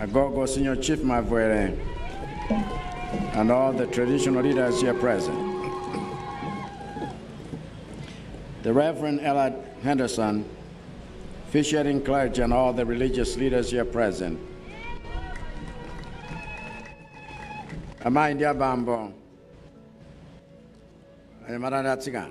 Agogo Senior Chief Mavwere, and all the traditional leaders here present. The Reverend Ella Henderson, officiating clergy, and all the religious leaders here present. Amayi ndi abambo, anyamata ndi atsikana.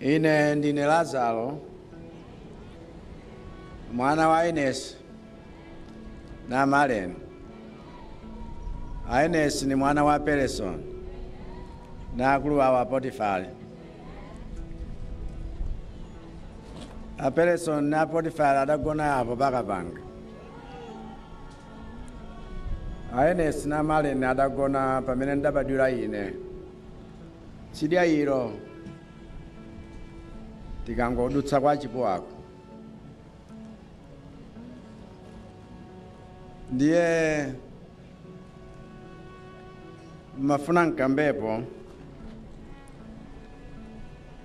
Ine ndine Lazaro, mwana wa Inesi na Maleni. A Inesi ndi mwana wa Peresoni ndi akulu awo a Potifari. A Peresoni na Potifari adagona apo paka panga. A Inesi na Maleni adagona pamene ndabadwira ine. tsidya ilo tikangodutsa kwa Chipuwako ndiye mafuna mkambepo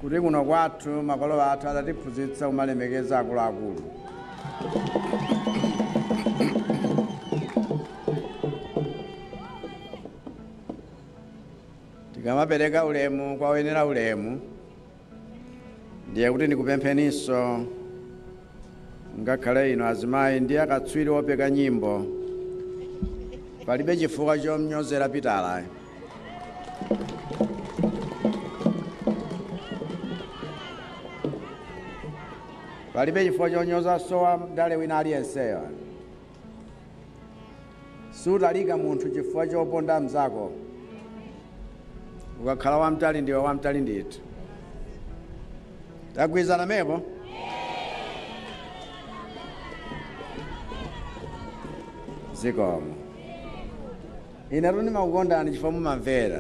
kuti kuno kwathu makolo athu adatiphunzitsa kumalemekeza akuluakulu tikamapereka ulemu kwa oyenera ulemu ndiye kuti ndikupempheninso ngakhale inu azimayi ndi akatswiri opeka nyimbo palibe chifukwa chomnyozera Pitala palibe chifukwa chonyozanso wandale wina aliyenseyo Sutalika munthu chifukwa choponda mnzako. Ukakhala wamtali ndiwe wamtali ndithu. Tagwirizana mepo? Zikomo. Inetu ndimakukondani chifukwa mumamvera.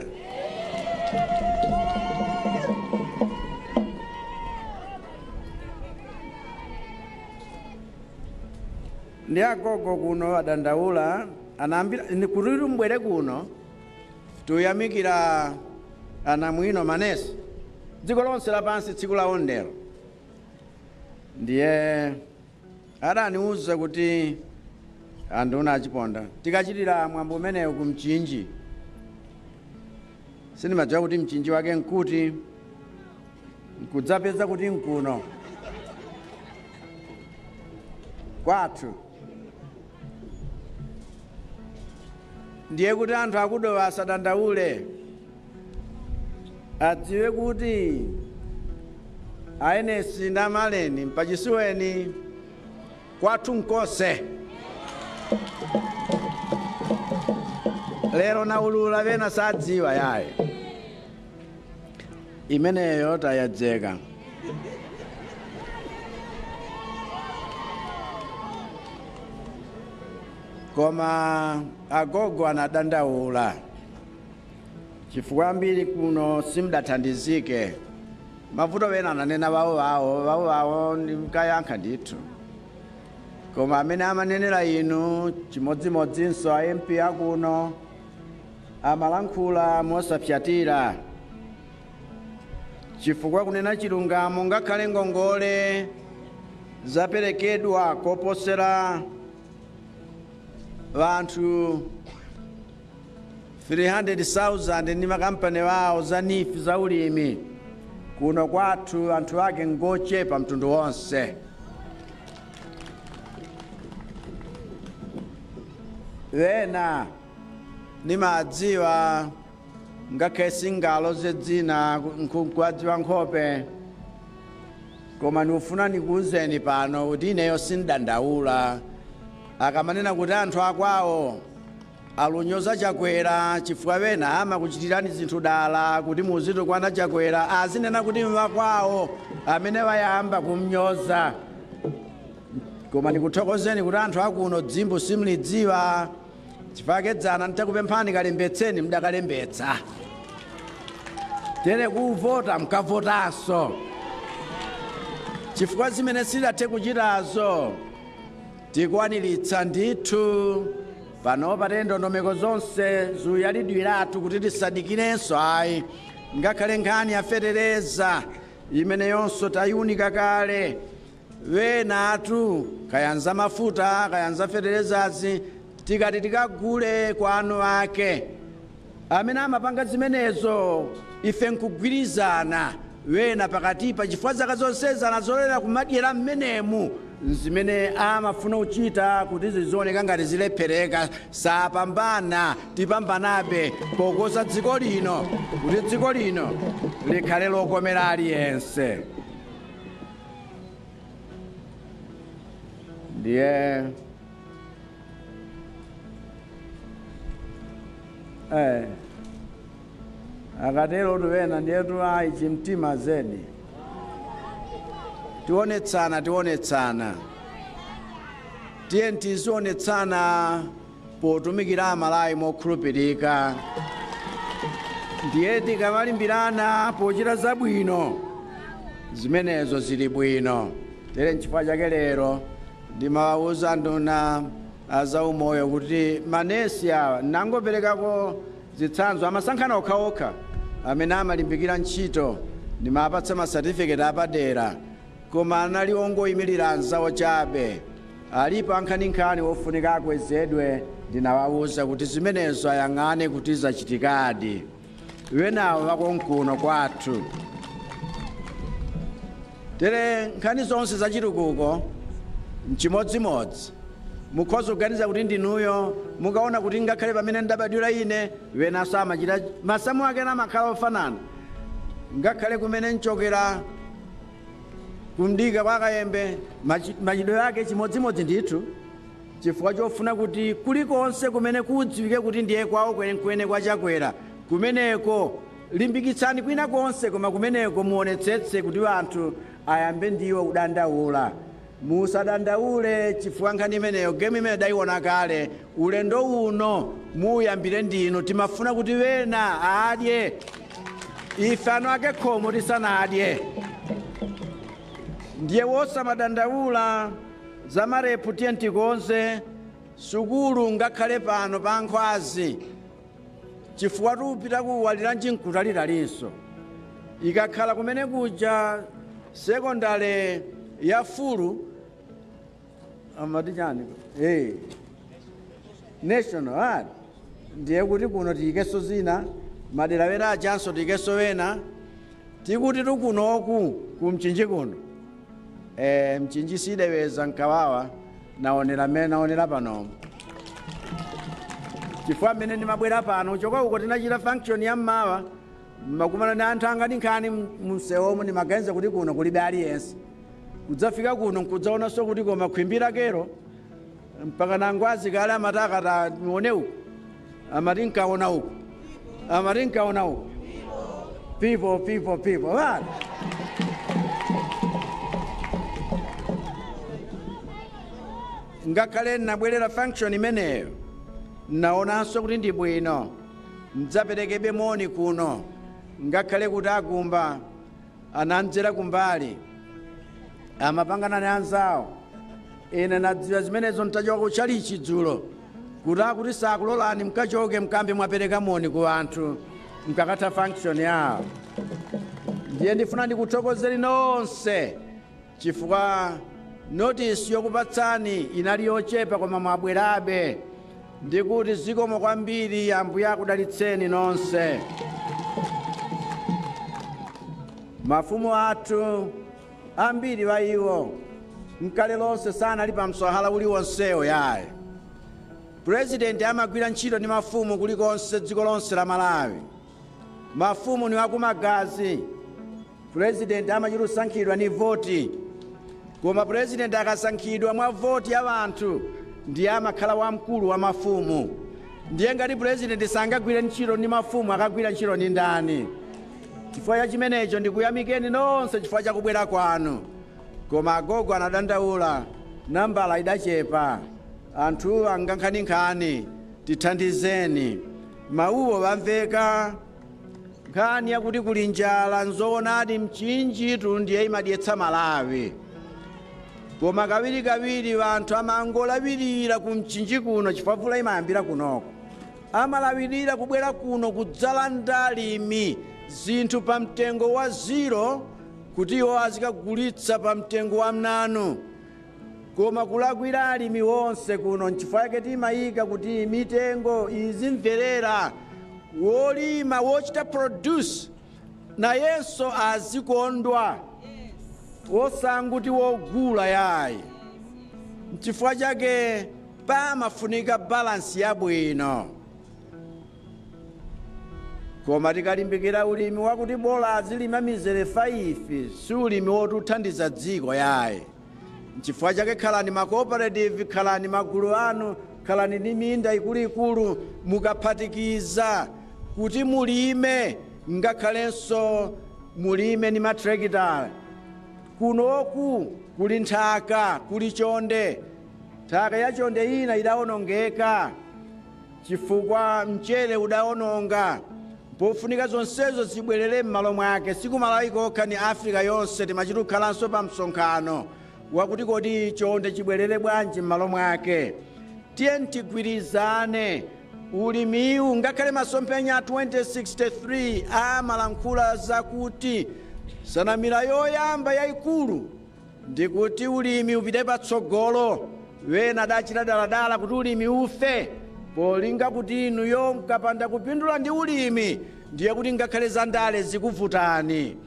Ndi agogo kuno adandaula anandiimbira ine kuti mubwere kuno tuyamikira anamwino manesi dziko lonse lapansi tsiku lawo ndi lero ndiye adaniuza kuti anduna a Chiponda tikachitira mwambo umenewu ku Mchinji sindimadziwa kuti Mchinji wake nkuti nkudzapeza kuti nkuno kwathu ndiye kuti anthu a ku Dowa asadandaule adziwe kuti a Inesi nda Maleni mpachisuweni kwathu nkose lero naulula vena sadziwa yaye imeneyo tayedzeka koma agogo anadandaula chifukwa ambiri kuno simdathandizike Mavuto ena ananena bawo bawo bawo bawo ndimkayankha ndithu koma amene amanenera inu chimodzimodzinso a MP akuno amalankhula mosapyatira chifukwa kunena chilungamo ngakhale ngongole zaperekedwa koposera vanthu 300,000 ndi makampani awo za NEEF za ulimi kuno kwathu anthu ake ngochepa mtundu wonse ena ndimawadziwa ngakhale singaloze dzina nkuadziwa nkhope koma ndikufuna ndikuwuzeni pano kuti ineyo sindandaula akamanena kuti anthu akwawo Alunyoza Chakwera chifukwa ena amakuchitirani zinthu dala kuti muzitukwana Chakwera azinena kuti nwakwao amene wayamba kumnyoza koma ndikuthokozeni kuti anthu akuno dzimbu simlidziwa chifake dzana nditakupemphani kalembetseni mdakalembetsa tere kuvota mkavotanso chifukwa zimene sidathe kuchitazo Tikwaniritsa ndithu. Panopa te ndondomeko zonse zuyalidwiratu kuti tisadikirenso ayi. Ngakhale nkhani ya fetereza imeneyonso tayiunika kale. Enatu kaya nzamafuta kaya nzafeterezazi tikati tikagule kwa anu ake. amene amapanga zimenezo. Ife nkugwirizana, ena pakatipa, chifukwa zaka zonsezi anazolowera kumadyera mmenemu. Nzimene amafuna kuchita, kuti zizioneka ngati zilephereka. Sapambana. Tipambanabe, pokoza dziko lino, kuti dziko lino likhale lokomera aliyense. Ndiye. Eh. akaterotu wena ndiyetu ayi chimtima zedi tionetsana tionetsana tiye tizionetsana potumikira Amalawi mokhulupirika ndiye tikamalimbirana pochita zabwino zimenezo zili bwino tere nchifukwa chake lero Ndimawauza anduna a zaumoyo kuti manesi awa, nangoperekako zitsanzo, amasankhana okhaokha amene amalimbikira ntchito, ndi mawapatsa masatifiketi apadera, koma anali ongoimirira anzawo chabe. Alipo ankhaninkhani ofunika akwezedwe, ndinawauza kuti zimenezo ayang'ane kuti zachitikadi. wenawo wakonkuno kwathu tere nkhani zonse za chitukuko nchimodzimodzi mukhoza kuganiza kuti ndinuyo mukaona kuti ngakhale pamene ndabadwira ine wenaso amachita masamu ake namakhala ofanana ngakhale kumene nchokera ku Mdika kwa Kayembe machitidwe ake chimodzimodzi ndithu Chifukwa chofuna kuti kulikonse kumene kudziwike kuti ndiye kwawo kwenekwene kwa Chakwera, kumeneko limbikitsani kwina konse koma kumeneko muonetsetse kuti anthu ayambe ndiwo kudandaula. Musadandaule chifukwa nkhani imeneyo game imeneyi ndaiona kale, ulendo uno muuyambire ndinu timafuna kuti wena adye ife anu a ke khomo tisanadye ndiye wosamadandaula. Za ma lab tiyeni tikonze sukulu ngakhale pano pa Nkhwazi chifukwatu kupita ku Waliranji nkutalitalinso ikakhala kumene kuja sekondale ya fulu amati chani hey. national ad ndiye kuti kuno tiyikenso zina madera wena ajanso tiyikenso wena tikuti tikunoku ku Mchinji kuno Eh, Mchinji sideweza nkawawa naonera mmene naonera panomo chifukwa mmene ndimabwera pano kuchoka uko tinachita function ya mmawa nimakumana ndi anthu anga nkhaninkhani mumsewomo ndimaganiza kuti kuno kulibe aliyense kudzafika kuno nkudzaonanso kuti koma khwimbi lakelo mpakana a Ngwazi kale amati nkati nione uku amati nkaona uku amati nkaona uku pipo pipo pipo bana ngakhale nnabwerera function imeneyo nnaonanso kuti ndi bwino ndidzaperekebe moni kuno ngakhale kuti a Gumba anandzera kumbali amapangana ndi anzawo ine nadziwa zimenezo ntachoka ku tchalitchi dzulo kuti akuti sakulolani mkachoke mkambe mwapereka moni ku anthu mkakatha function yawo ndiye ndifuna ndikuthokozeni nonse chifukwa notice yokupatsani inali yochepa koma mwabwerabe ndikuti zikomo kwambiri ambuye akudalitseni nonse mafumu athu ambiri wa iwo mkale lonse sanali pa mswahala uliwonsewo yayi purezidenti amagwira ntchito ndi mafumu kulikonse dziko lonse la malawi mafumu ni wakumagazi President amachita kusankhidwa ndi voti koma president akasankhidwa mwa voti ya anthu ndiye amakhala wamkulu wa mafumu ndiye ngati president sangagwire ntchito ndi mafumu akagwira ntchito ndi ndani chifukwa cha chimenecho ndikuyamikeni nonse chifukwa cha kubwera kwanu koma agogo anadandaula nambala idachepa anthu angankhaninkhani tithandizeni mawuwo wamveka nkhani yakuti kuli njala nzoonadi mchinjitu ndiye imadyetsa malawi koma kawirikawiri wanthu amangolawirira ku mchinji kuno chifukwa mvula imayambira kunoko amalawirira kubwera kuno kudzalanda alimi zinthu pa mtengo wa ziro kuti iwo azikagulitsa pa mtengo wa mnanu Koma kulakwira alimi wonse kuno nchifukwa chake timayika kuti mitengo izimverera wolima wochita produce nayenso azikondwa wosangoti wogula yayi nchifukwa chake pamafunika balansi yabwino koma tikalimbikira ulimi wakuti bola azilima mizere 5 si ulimi wotithandiza dziko yayi Nchifukwa chake khalani ma cooperative, khalani magulu anu, khalani ndi minda ikuluikulu, mukaphatikiza kuti mulime ngakhalenso mulime ndi matrekitala, kunoku kuli nthaka, kuli chonde. Nthaka yachonde ina idaonongeka chifukwa mchere udaononga. Mpofunika zonsezo zibwelere mmalo mwake, si ku Malawi kokha ni Africa yonse timachita kukhalanso pa msonkhano wakuti kodi chonde chibwelere bwanji mmalo mwake. Tiyeni tigwirizane. Ulimiwu ngakhale masomphenya a 2063 amalankhula zakuti nsanamira yoyamba yaikulu. ndi kuti ulimi upite patsogolo, wena adachita daladala kuti ulimi ufe, polinga kuti inuyo mkapanda kupindula ndi ulimi ndiye kuti ngakhale zandale zikuvutani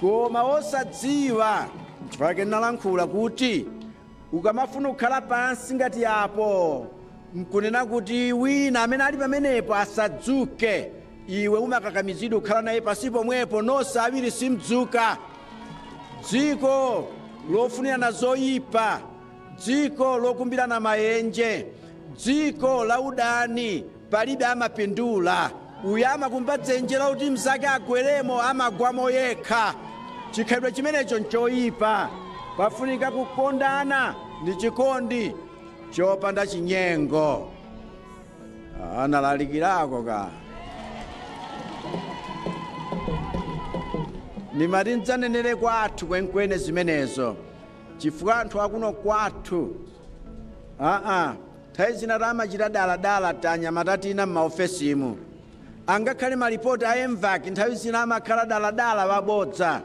koma osadziwa chifukwa chake ndinalankhula kuti Ukamafuna kukhala pansi ngati apo, nkunena kuti wina amene ali pamenepo asadzuke, iwe umakakamizidwa kukhala naye pansi pomwepo, nonse awiri simdzuka. Dziko lofunirana zoyipa, dziko lokumbirana mayenje, dziko la udani. Palibe amapindula. Uyo amakumba dzenje lakuti mzake agweremo, amagwamo yekha. Chikhalidwe chimenecho nchoyipa. Pafunika kukondana ndi chikondi chopanda chinyengo. Analalikirako ka nimati ndzanenere kwathu kwenkwene zimenezo chifukwa anthu akuno kwathu aa Nthawi zina tamachita dala dala tanyamata tina m'maofesimu. Angakhale malipoti a Mvac nthawi zina amakhala dala dala wabodza.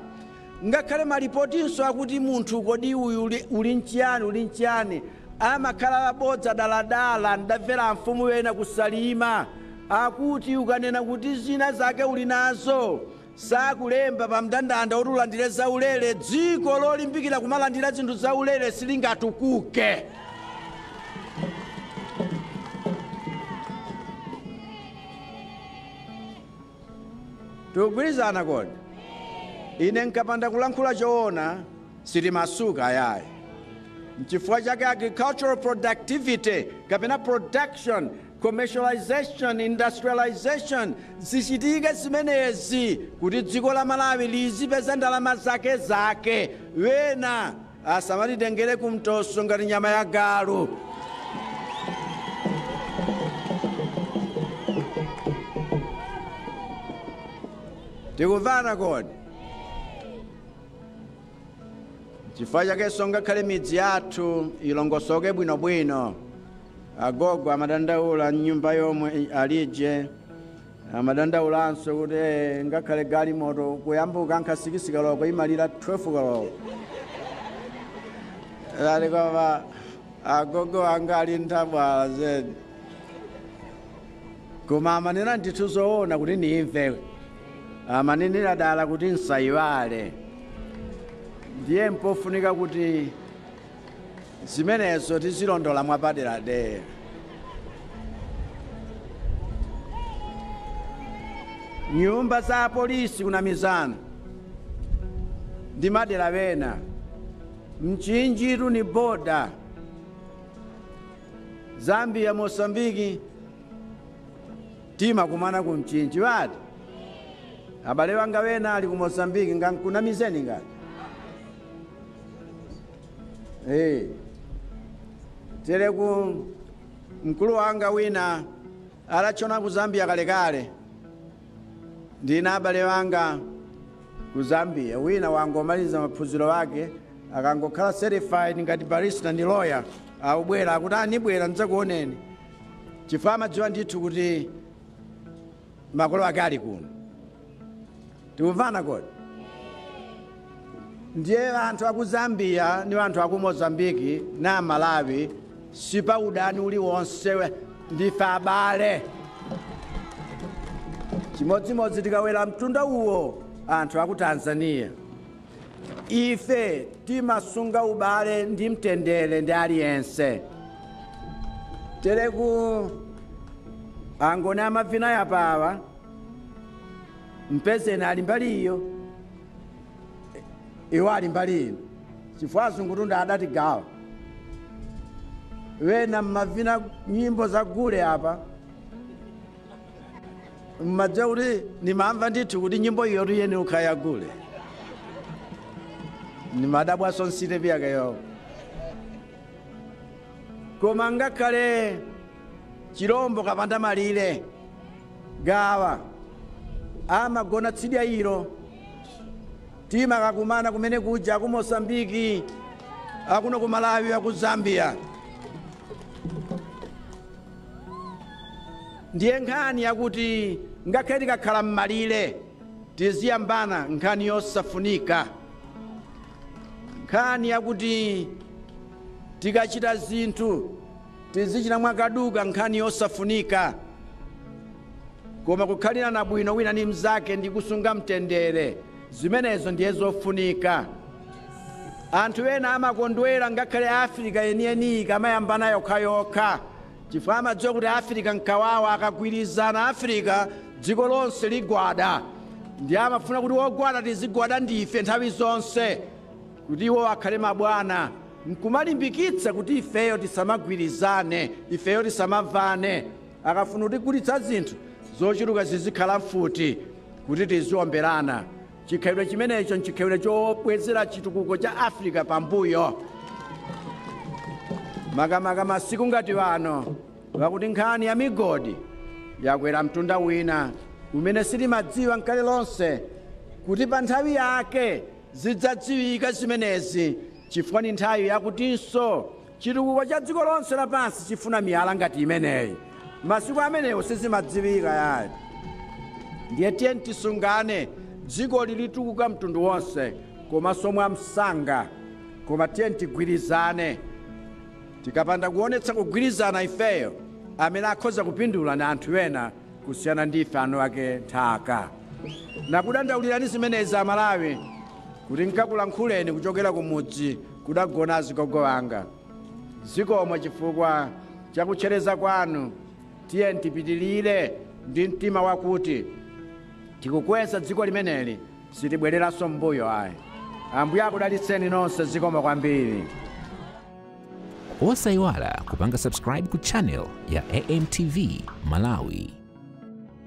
Ngakhale malipotinso akuti munthu kodi uyu uli, uli nchiyani uli nchiyani amakhala wabodza dala dala. Ndamvera amfumu ena ku Salima akuti ukanena kuti zina zake uli nazo sakulemba pa mndandanda woti ulandire zaulere, dziko lolimbikira kumalandira zinthu zaulere silingatukuke. Tikugwirizana kodi? Ine nkapanda kulankhula choona sitimasuka ayayi. Nchifukwa chake agricultural productivity kapena production Commercialization, Industrialization, zichitike zimenezi kuti dziko la Malawi lizipeza ndalama zake zake, wena asamatitengere ku mtoso ngati nyama ya galu. Tikumvana kodi? Chifukwa chakenso ngakhale midzi yathu ilongosoke bwinobwino. Agogo amadandaula m'nyumba yomwe alije. Amadandaulanso kuti eh, ngakhale galimoto kuyambuka nkha 6 koloko imalira 12 koloko. Nati koma agogo anga ali nthabwala zedi. Koma amanena ndithu zoona kuti ndimve. amanenera dala kuti nsayiwale ndiye mpofunika kuti zimenezo tizilondola mwapaderadera nyumba za polisi kunamizana ndi madera wena Mchinji kuli ni boda zambia mosambiki Timakumana ku Mchinji eti? Abale wanga wena ali ku Mozambique ngankunamizeni ngati? Tereku mkulu wanga wina adatchona ku Zambia kalekale ndi na abale wanga ku Zambia wina wangomaliza maphunziro ake akangokhala certified ngati barista ndi lawyer akubwera akuti ah nibwera ndidzakuoneni chifukwa amadziwa ndithu kuti makolo ake ali kuno tikumvana kodi ndiye anthu aku zambia ni anthu aku mozambiki na malawi sipali udani uliwonse ndife abale chimodzimodzi tikakwera mtunda uwo anthu aku tanzania Ife timasunga ubale ndi mtendere ndi aliyense tereku angoni amavina yapawa mpezeni ali mbali iyo iwo ali mbali ino chifukwa azungutu nd'adatigawa wena mmavina nyimbo za gule apa mmadziwa kuti ndimamva ndithu kuti nyimbo iyotu eni ukhaya gule ndimadabwanso n'sitepi yake yayo koma ngakhale chilombo kapandamalire Gawa amagona tsidya ilo timakakumana kumene kuja aku mozambiki akuno ku malawi aku zambia ndiye nkhani yakuti ngakhale tikakhala m'malire tiziyambana nkhani yosafunika nkhani yakuti tikachita zinthu tizichita mwakaduka nkhani yosafunika koma kukhalirana bwino wina ndi mnzake ndi kusunga mtendere Zimenezo ndiye zofunika. Anthu ena amakondwera ngakhale Afirika yeniyeniyi ikamayambana yokhayokha chifukwa amadziwa kuti Afirika n'kawawa. Akagwirizana Afirika, dziko lonse ligwada. Ndiye amafuna kuti wogwada tizigwada ndife nthawi zonse kuti iwowo akhale mabwana, n'kumalimbikitsa kuti ifeyo tisamagwirizane, ifeyo tisamamvane. Akafuna kutigulitsa zinthu zochuluka zizikhala mfuti kuti tiziomberana. Chikhalidwe chimenecho nchikhalidwe chobwezera chitukuko cha Afirika pambuyo, makamaka masiku ngati ano akuti nkhani ya migodi yakwera mtunda wina umene sitimadziwa nkale lonse kuti pa nthawi yake zidzadziwika zimenezi chifukwa ni nthawi yakutinso Chitukuko cha dziko lonse lapansi chifuna miyala ngati imeneyi. Masiku amenewo sizimadziwika yayi. Ndiye tiyeni tisungane. Dzikoli litukuka mtundu wonse komanso mwamsanga. Koma tiyeni tigwirizane. Tikapanda kuonetsa kugwirizana ifeyo, amene akhoza kupindula ni anthu ena kusiyana ndi ife anuwake nthaka. Nakudandaulilani zimenezi a Malawi kuti ndikulankhuleni kuchokera kumudzi kudagona azigogo anga. Zikomo chifukwa chakutchereza kwanu. Tiyeni tipitilire ndi mtima wakuti tikukweza dziko limeneli sitibwereranso m'mbuyo ayi. Ambuye akudalitseni nonse zikomo kwambiri. Osaiwala kupanga subscribe ku channel ya AMTV Malawi.